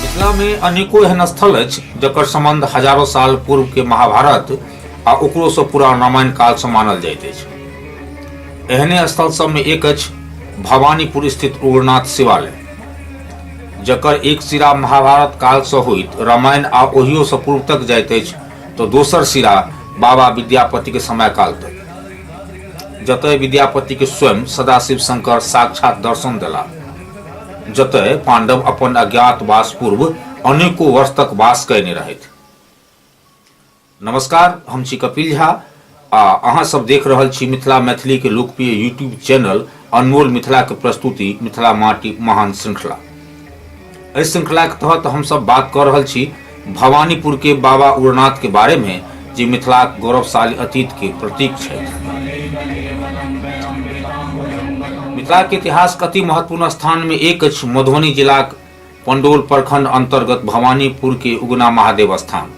मिथिला मे अनेको एहन स्थल अछि जकर संबंध हजारों साल पूर्व के महाभारत आ ओकरो से पुरान रामायण काल से मानल जाइत अछि एहने स्थल सब में एक अछि भवानीपुर स्थित उग्रनाथ शिवालय जकर एक सिरा महाभारत काल से होइत रामायण आ ओहियो से पूर्व तक जाइत अछि तऽ दोसर सिरा बाबा विद्यापतिके समयकाल तक जतय विद्यापतिके स्वयं सदाशिव शंकर साक्षात दर्शन देला जतय पांडव अपन अज्ञातवास पूर्व अनेको वर्ष तक वास कयने रहथि नमस्कार हम छी कपिल झा आ अहाँ सब देख रहल छी मिथिला मैथिली के लोकप्रिय यूट्यूब चैनल अनमोल मिथिला के प्रस्तुति मिथिला माटी महान श्रृंखला एहि श्रृंखला के तहत हम सब बात कर रहल छी भवानीपुर के बाबा उड़नाथ के बारे में जे मिथिला के गौरवशाली अतीत के प्रतीक छै मिथिला के इतिहास के अति महत्वपूर्ण स्थान में एक अछि मधुबनी जिला के पंडोल प्रखंड अंतर्गत भवानीपुर के उगना महादेव स्थान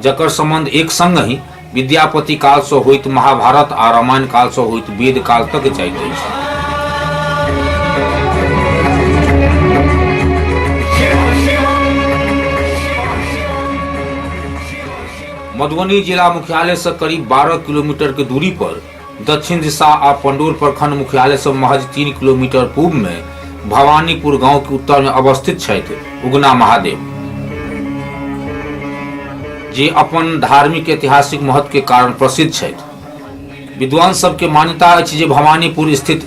जकर संबंध एक संग ही विद्यापति काल से होइत महाभारत आ रामायण काल से होइत वेद काल तक जाइत अछि मधुबनी जिला मुख्यालय से करीब 12 किलोमीटर के दूरी पर दक्षिण दिशा आ पंडोर प्रखंड मुख्यालय से महज तीन किलोमीटर पूर्व में भवानीपुर गांव के उत्तर में अवस्थित छथि उगना महादेव जे अपन धार्मिक ऐतिहासिक महत्व के कारण प्रसिद्ध छथि विद्वान सबके मान्यता अछि जे भवानीपुर स्थित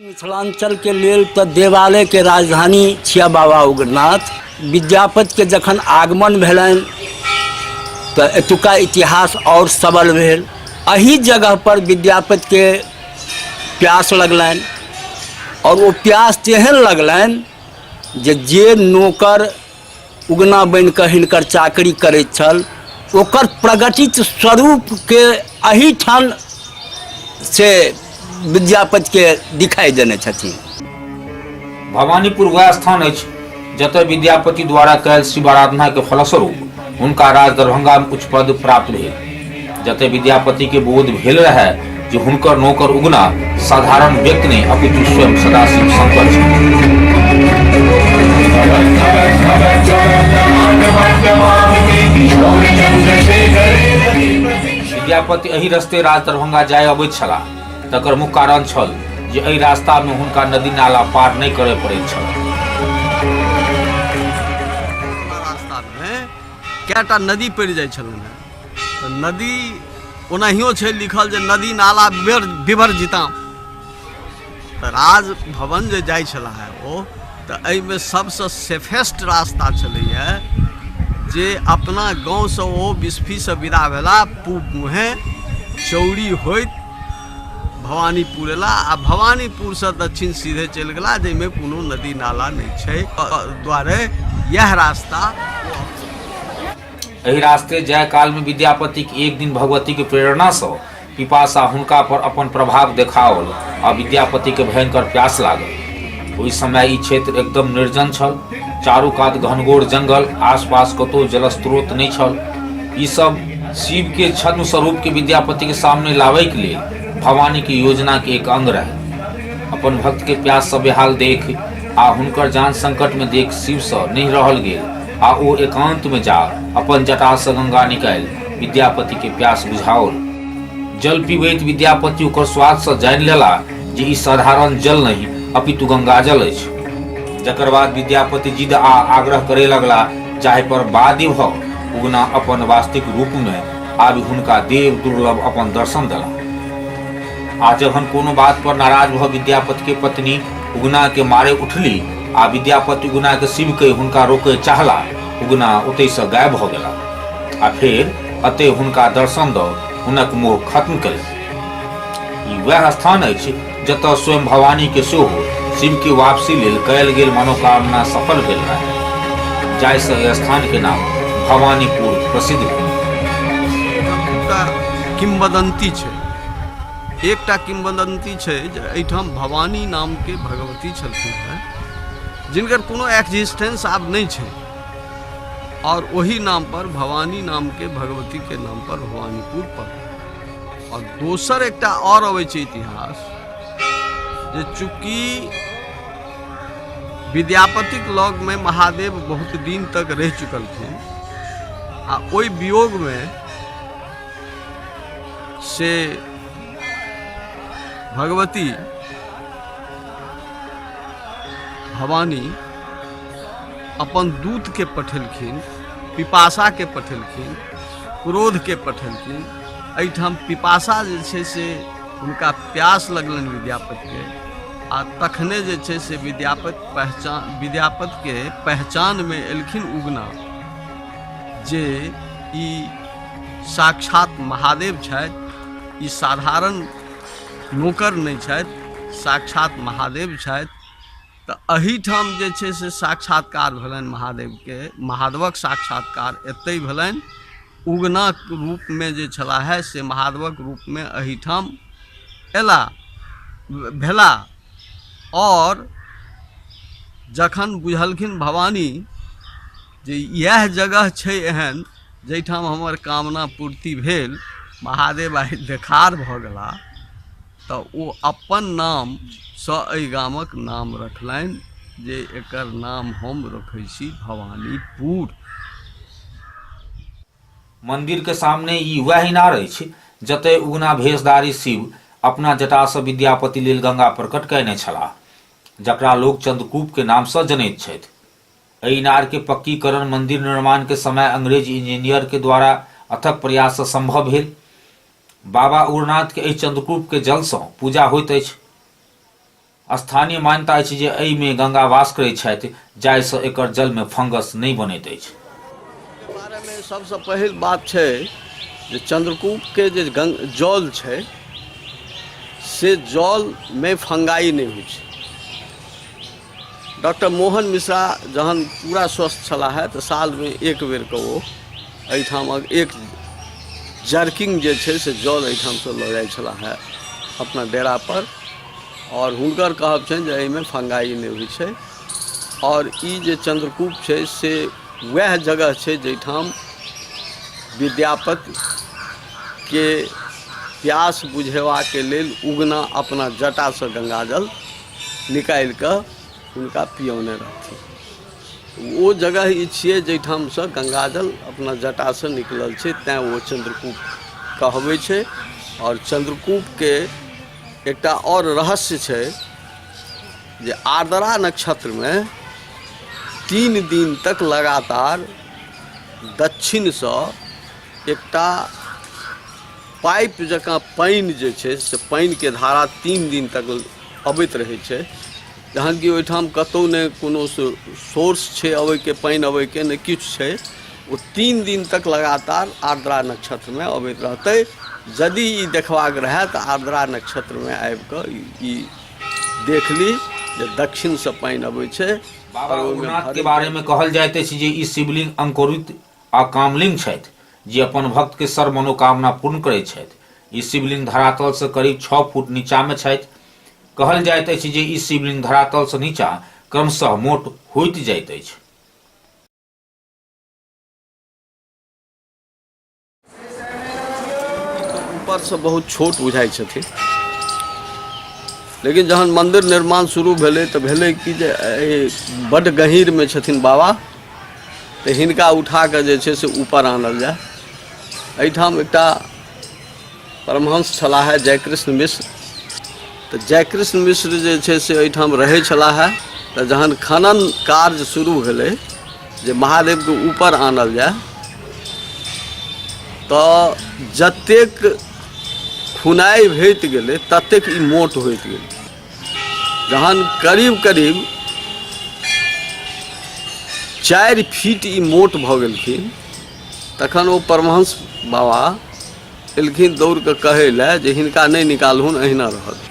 मिथिलाञ्चलके लेल तऽ देवालयके राजधानी छिया बाबा उग्रनाथ विद्यापतिके जखन आगमन भेलनि तऽ एतुका इतिहास आओर सबल भेल एही जगह पर विद्यापतिके प्यास लगलनि आओर ओ प्यास तेहन लगलनि जे जे नौकर उगना बनि कऽ हिनकर चाकरी करैत छल ओकर प्रगटित स्वरूपके एहिठाम से विद्यापतिके दिखाइ देने छथिन भवानीपुर वएह स्थान अछि जतय विद्यापति द्वारा कयल शिवाराधना के फलस्वरूप हुनका राज दरभंगा में उच्च पद प्राप्त भेल जते विद्यापति के बोध भेल रहे जे हुनकर नौकर उगना साधारण व्यक्ति नहीं अपितु स्वयं सदाशिव शंकर छी। विद्यापति एहि रस्ते राज दरभंगा जाय अबैत छलाह तकर मुख्य कारण छल जे एहि रास्ता में हुनका नदी नाला पार नहीं करय पड़ैत छल हैं कैटा नदी पड़ जाय छलन हैं तो नदी ओनाहियो छे लिखल जे नदी नाला बिभर बिभर जिता तो राज भवन जे जाय छला है ओ तो एहि में सबसे सेफेस्ट रास्ता चले है जे अपना गाँव से ओ बिस्फी से विदा भेला पूब मुहे चौड़ी होइत भवानीपुर एला आ भवानीपुर से दक्षिण सीधे चलि गेला जाहिमे कोनो नदी नाला नहि छै दुआरे यह रास्ता एहि रास्ते जाय कालमे विद्यापतिक एक दिन भगवतीक प्रेरणासँ पिपासा हुनका पर अपन प्रभाव देखाओल आ विद्यापतिके भयंकर प्यास लागल ओहि समय ई क्षेत्र एकदम निर्जन छल चारू कात घनघोर जंगल आसपास कतहु जलस्रोत नहि छल ई सब शिव के छद्म स्वरूप के विद्यापति के सामने लावे के लिए भवानी के योजना के एक अंग रहे अपन भक्त के प्यास से बेहाल देख आ हुनकर जान संकट में देख शिव से नहीं रहल गेल आ ओ एकांत में जा अपन जटा से गंगा निकाल विद्यापति के प्यास बुझाओल जल पीबैत विद्यापति ओकर स्वाद से जानि लेला जे ई साधारण जल नहि अपितु गंगाजल अछि जकर बाद विद्यापति जिद आ आग्रह करे लगला जाहि पर बाध्य भ उगना अपन वास्तविक रूप में आबि हुनका देव दुर्लभ अपन दर्शन दला आ जखन कोनो बात पर नाराज भ विद्यापति के पत्नी उगना के मारे उठली आ विद्यापति उगना के शिव के हुनका रोके चाहला उगना ओतय से गायब भ गेला आ फेर अतय हुनका दर्शन द हुनक मोह खत्म कयलनि ई वएह स्थान अछि जतय स्वयं भवानी के सेहो शिव के वापसी लेल कयल गेल मनोकामना सफल भेल रहे जाहिसँ एहि स्थान के नाम भवानीपुर प्रसिद्ध भेल एतुका किंवदंती छै एकटा किंवदंती छै जे एहिठाम भवानी नामके भगवती छलखिन हेँ जिनकर कोनो एक्जिस्टेंस आब नहि छै आओर ओही नामपर भवानी नामके भगवतीके नामपर भवानीपुर पड़ल और दोसर एक और अवे इतिहास जे चूंकि विद्यापति लॉग में महादेव बहुत दिन तक रह चुकल थे आ ओई वियोग में से भगवती भवानी अपन दूत के पठेलखिन पिपासा के पठेलखिन क्रोधके पठेलखिन एहिठाम पिपासा जे छै से हुनका प्यास लगलनि विद्यापतिके आ तखने जे छै से विद्यापति पहचान विद्यापतिके पहचानमे एलखिन उगना जे ई साक्षात महादेव छथि ई साधारण नौकर नहि छथि साक्षात महादेव छथि तऽ एहिठाम जे छै से साक्षात्कार भेलनि महादेवके महादेवक साक्षात्कार एतहि भेलनि उगनाक रूपमे जे छलाह से महादेवक रूपमे एहिठाम अयला भेला आओर जखन बुझलखिन भवानी जे इएह जगह छै एहन जाहिठाम हमर कामना पूर्ति भेल महादेव आइ देखार भऽ गेला तऽ ओ अपन नामसँ एहि गामक नाम रखलनि जे एकर नाम हम रखै छी भवानीपुर मन्दिरके सामने ई वएह इनार अछि जतय उगना भेषधारी शिव अपना जटासँ विद्यापति लेल गंगा प्रकट कयने छलाह जकरा लोक चंद्रकूपके नामसँ जनैत छथि एहि इनारके पक्कीकरण मन्दिर निर्माणके समय अंग्रेज इंजीनियरके द्वारा अथक प्रयाससँ सम्भव भेल बाबा उग्रनाथ के एहि चंद्रकूप के जल सँ पूजा होइत अछि स्थानीय मान्यता अछि जे एहि में गंगा वास करैत छथि जाहि सँ एकर जल में फंगस नहि बनैत अछि के बारे में सबसे पहिल बात छै जे चंद्रकूप के जे गंग जल छै से जल में फंगाई नहि होइ छै डॉक्टर मोहन मिश्रा जहन पूरा स्वस्थ छलाह तऽ सालमे एक बेरके ओ एहिठामक एक जर्किंग जे छै से जल एहिठामसँ लऽ जाइ छलाह अपना डेरापर आओर हुनकर कहब छनि जे एहिमे फंगाइ नहि होइ छै आओर ई जे चंद्रकूप छै से वएह जगह छै जाहिठाम विद्यापतिके प्यास बुझेबाके लेल उगना अपना जटासँ गंगाजल निकालि कऽ हुनका पियौने रहथिन ओ जगह ई छियै जाहिठामसँ गङ्गाजल अपना जटासँ निकलल छै तैँ ओ चन्द्रकूप कहबै छै आओर चन्द्रकूपके एकटा आओर रहस्य छै जे आर्द्रा नक्षत्रमे तीन दिन तक लगातार दक्षिणसँ एकटा पाइप जकाँ पानि जे छै से पानिके धारा तीन दिन तक अबैत रहै छै जहन कि ओहिठाम कतहु नहि कोनो सोर्स छै अबैके पानि अबैके नहि किछु छै ओ तीन दिन तक लगातार आर्द्रा नक्षत्रमे अबैत रहतै यदि ई देखबाक रहए तऽ आर्द्रा नक्षत्रमे आबि कऽ ई देख ली जे दक्षिणसँ पानि अबै छै बाबा ओहिमे उमनाथ के घरमे बारे में कहल जाइत अछि जे ई शिवलिंग अंकुरित आ कामलिंग छथि जे अपन भक्त के सर्व मनोकामना पूर्ण करैत छथि। ई शिवलिंग धरातल सँ करीब छह फुट नीचा मे छथि। कहल जाइत अछि जे ई शिवलिंग धरातल सँ नीचा क्रमशः मोट होइत जाइत अछि। ऊपरसँ बहुत छोट बुझाइ छथिन लेकिन जहन मन्दिर निर्माण शुरू भेलै तऽ भेलै कि जे एहि बड्ड गहीँरमे छथिन बाबा तऽ हिनका उठा कऽ जे छै से ऊपर आनल जाय एहिठाम एकटा परमहंस छलाह है जयकृष्ण मिश्र तऽ जयकृष्ण मिश्र जे छै से एहिठाम रहै छलाह है तऽ जहन खनन कार्य शुरू भेलै जे महादेवके ऊपर आनल जाय तऽ जतेक खुनाइ होइत गेलै ततेक ई मोट होइत गेलै जहन करीब करीब चारि फीट ई मोट भऽ गेलखिन तखन ओ परमहंस बाबा एलखिन दौड़ कऽ कहै लए जे हिनका नहि निकालहुन अहिना रहत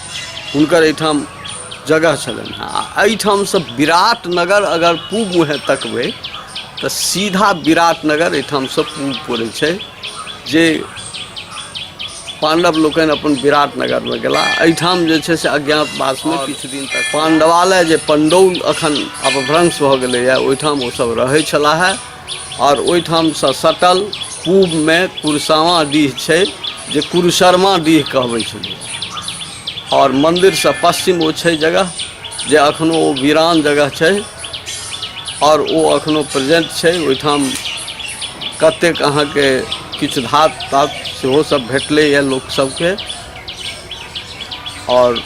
हुनकर एहिठाम जगह छलनि हँ आ एहिठामसँ विराट नगर अगर पूब मुँहे तकबै तऽ सीधा विराट नगर एहिठामसँ पूब पड़ै छै जे पांडव लोकनि अपन विराट नगरमे गेला एहिठाम जे छै से अज्ञातवासमे किछु दिन तक पांडवालय जे पंडौल अखन अपभ्रंश भऽ गेलैए ओहिठाम ओसभ रहै छलाहे आओर ओहिठामसँ सटल पूबमे कुरसावाँ डीह छै जे कुरसरमा डीह कहबै छलै आओर मन्दिरसँ पश्चिम ओ छै जगह जे एखनो ओ वीरान जगह छै आओर ओ एखनो प्रेजेंट छै ओहिठाम कतेक अहाँके किछु धात तात सेहो सब भेटलैए लोकसभके आओर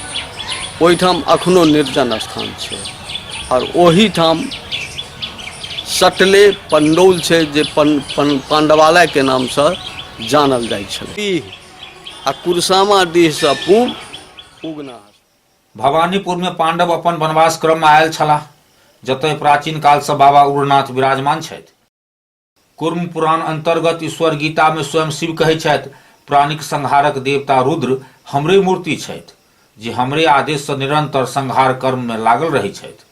ओहिठाम एखनो निर्जन स्थान छै आओर ओहिठाम सटले पंडौल छै जे पन, पन, पांडवालय के नाम से जानल जाय छल डीह आ कुरसामा डीह से पूब उगना भवानीपुर में पांडव अपन वनवास क्रम में आयल छलाह जतय प्राचीन काल से बाबा उग्रनाथ विराजमान छथि। कूर्म पुराण अंतर्गत ईश्वर गीता में स्वयं शिव कहै छथि प्राणिक संहारक देवता रुद्र हमरे मूर्ति छथि जे हमरे आदेश से निरंतर संहार कर्म में लागल रहै छथि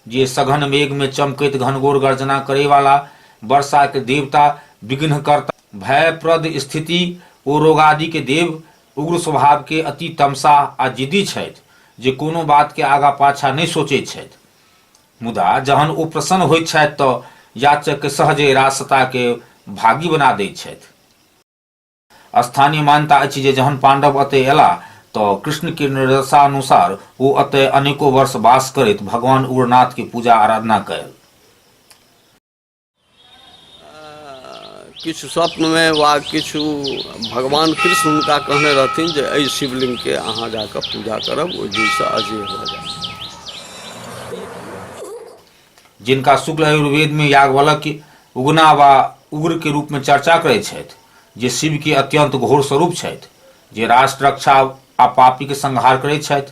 जे सघन मेघ में चमकैत घनघोर गर्जना करे वाला वर्षा के देवता विघ्नकर्ता भयप्रद स्थिति ओ रोगादि के देव उग्र स्वभाव के अति तमसा आ जिद्दी छथि जे कोनो बात के आगा पाछा नहीं सोचैत छथि मुदा जहन ओ प्रसन्न होइत छथि तऽ याचककेँ सहजे रासताके भागी बना दैत छथि। स्थानीय मान्यता अछि जे जहन पाण्डव अतए एलाह तऽ कृष्णके निर्देशानुसार ओ अतए अनेको वर्ष वास करैत भगवान् उग्रनाथके पूजा-आराधना कएल। किछु स्वप्नमे वा किछु भगवान कृष्ण हुनका कहने रहथिन जे एहि शिवलिङ्गके अहाँ जा कऽ पूजा करब ओहि दिनसँ अजय भऽ जायत जिनका शुक्ल आयुर्वेदमे याज्ञवल्क उगना वा उग्रके रूपमे चर्चा करैत छथि जे शिवके अत्यन्त घोर स्वरूप छथि जे राष्ट्र रक्षा आ पापीके संहार करैत छथि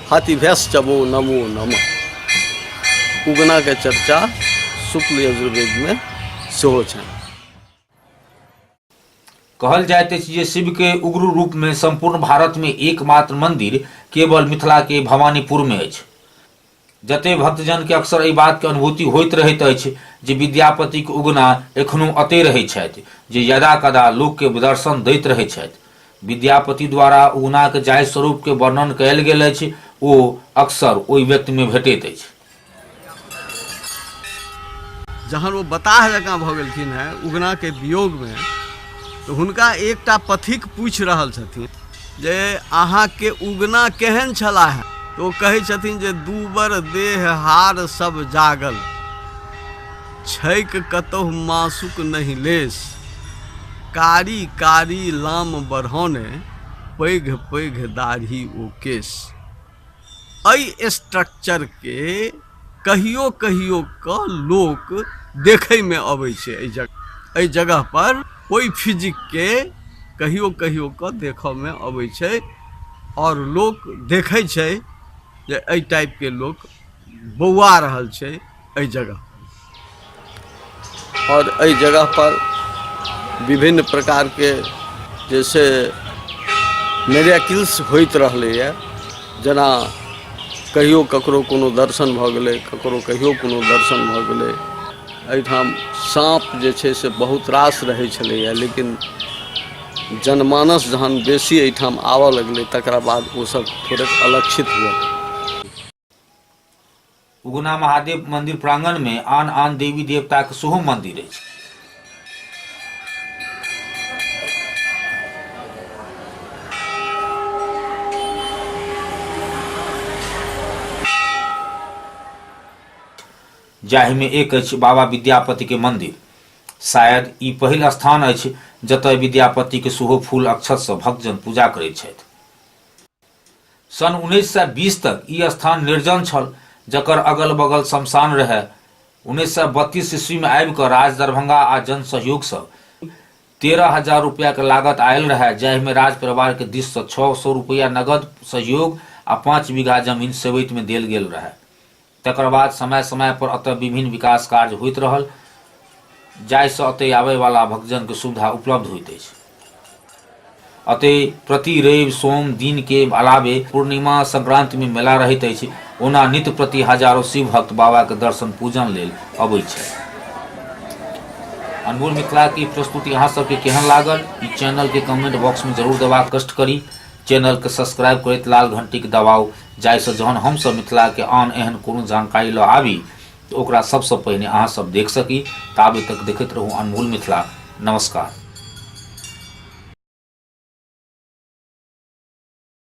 हाथी भैंस चबो नमो नम उगनाके चर्चा शुक्ल यजुर्वेदमे सेहो छनि कहल जाइत अछि जे शिवके उग्र रूपमे सम्पूर्ण भारतमे एकमात्र मन्दिर केवल मिथिलाके भवानीपुरमे अछि जते भक्तजनके अक्सर एहि बातके अनुभूति होइत रहैत अछि जे विद्यापतिक उगना एखनो अते रहैत छथि जे यदा कदा लोकके दर्शन दैत रहैत छथि विद्यापति द्वारा उगनाक जाहि स्वरूपके वर्णन कयल गेल अछि ओ अक्सर ओहि व्यक्तिमे भेटैत अछि जहन ओ बताह जकाँ भऽ गेलखिन हेँ उगनाके वियोगमे तऽ हुनका एकटा पथिक पूछि रहल छथिन जे अहाँके उगना केहन छलाह तऽ ओ कहै छथिन जे दूबर देह हार सब जागल छैक कतहु मासुक नहि लेश। कारी-कारी लाम बढ़ौने पैघ-पैघ दाढ़ी ओ केश। अइ स्ट्रक्चर के कहियो-कहियो क लोक देखै मे अबै छै अइ जगह अइ जगह पर ओइ फिजिक के कहियो-कहियो क देखऽ मे अबै छै और लोक देखै छै जे अइ टाइप के लोक बौआ रहल छै। एहि जगह आओर एहि जगह पर विभिन्न प्रकार के जैसे मेरेकिल्स होइत रहलैए जेना कहियो ककरो कोनो दर्शन भऽ गेलै ककरो कहियो कोनो दर्शन भऽ गेलै एहिठाम साँप जे छै से बहुत रास रहै छलैए लेकिन जनमानस जहन बेसी एहिठाम आबऽ लगलै तकरा बाद ओ सब थोड़ेक अलक्षित हुअ उगना महादेव मंदिर प्रांगण में आन आन देवी देवता के सेहो मंदिर अछि जाहिमे एक अछि बाबा विद्यापति के मंदिर शायद ई पहिल स्थान अछि जतय विद्यापति के सेहो फूल अक्षत सँ भक्तजन पूजा करैत छथि सन् उन्नैस सय बीस तक ई स्थान निर्जन छल जकर अगल बगल शमशान रहए उन्नैस सय बत्तीस ईस्वीमे आबि कऽ राज दरभंगा आ जन सहयोगसँ तेरह हजार रुपैआक लागत आयल रहए जाहिमे राज परिवारके दिससँ छओ सए रुपैआ नगद सहयोग आ पाँच बीघा जमीन सेवैतमे देल गेल रहए तकर बाद समय समय पर अतय विभिन्न विकास कार्य होइत रहल जाहिसँ अतय आबयवला भक्तजनके सुविधा उपलब्ध होइत अछि अतय प्रति रवि सोम दिन के अलावे पूर्णिमा संक्रांति में मेला रहैत अछि ओना नित्य प्रति हजारों शिव भक्त बाबा के दर्शन पूजन लेल अबैत छथि अनमोल मिथिला की प्रस्तुति अहाँ सबके केहन लागल ई चैनल के कमेंट बॉक्स में जरूर देबाक कष्ट करी चैनल के सब्सक्राइब करैत लाल घंटी के दबाव जाहिसँ जहन हमसभ मिथिलाके आन एहन कोनो जानकारी लऽ आबी तऽ ओकरा सभसँ पहिने अहाँसभ देख सकी ताबे तक देखैत रहू अनमोल मिथिला नमस्कार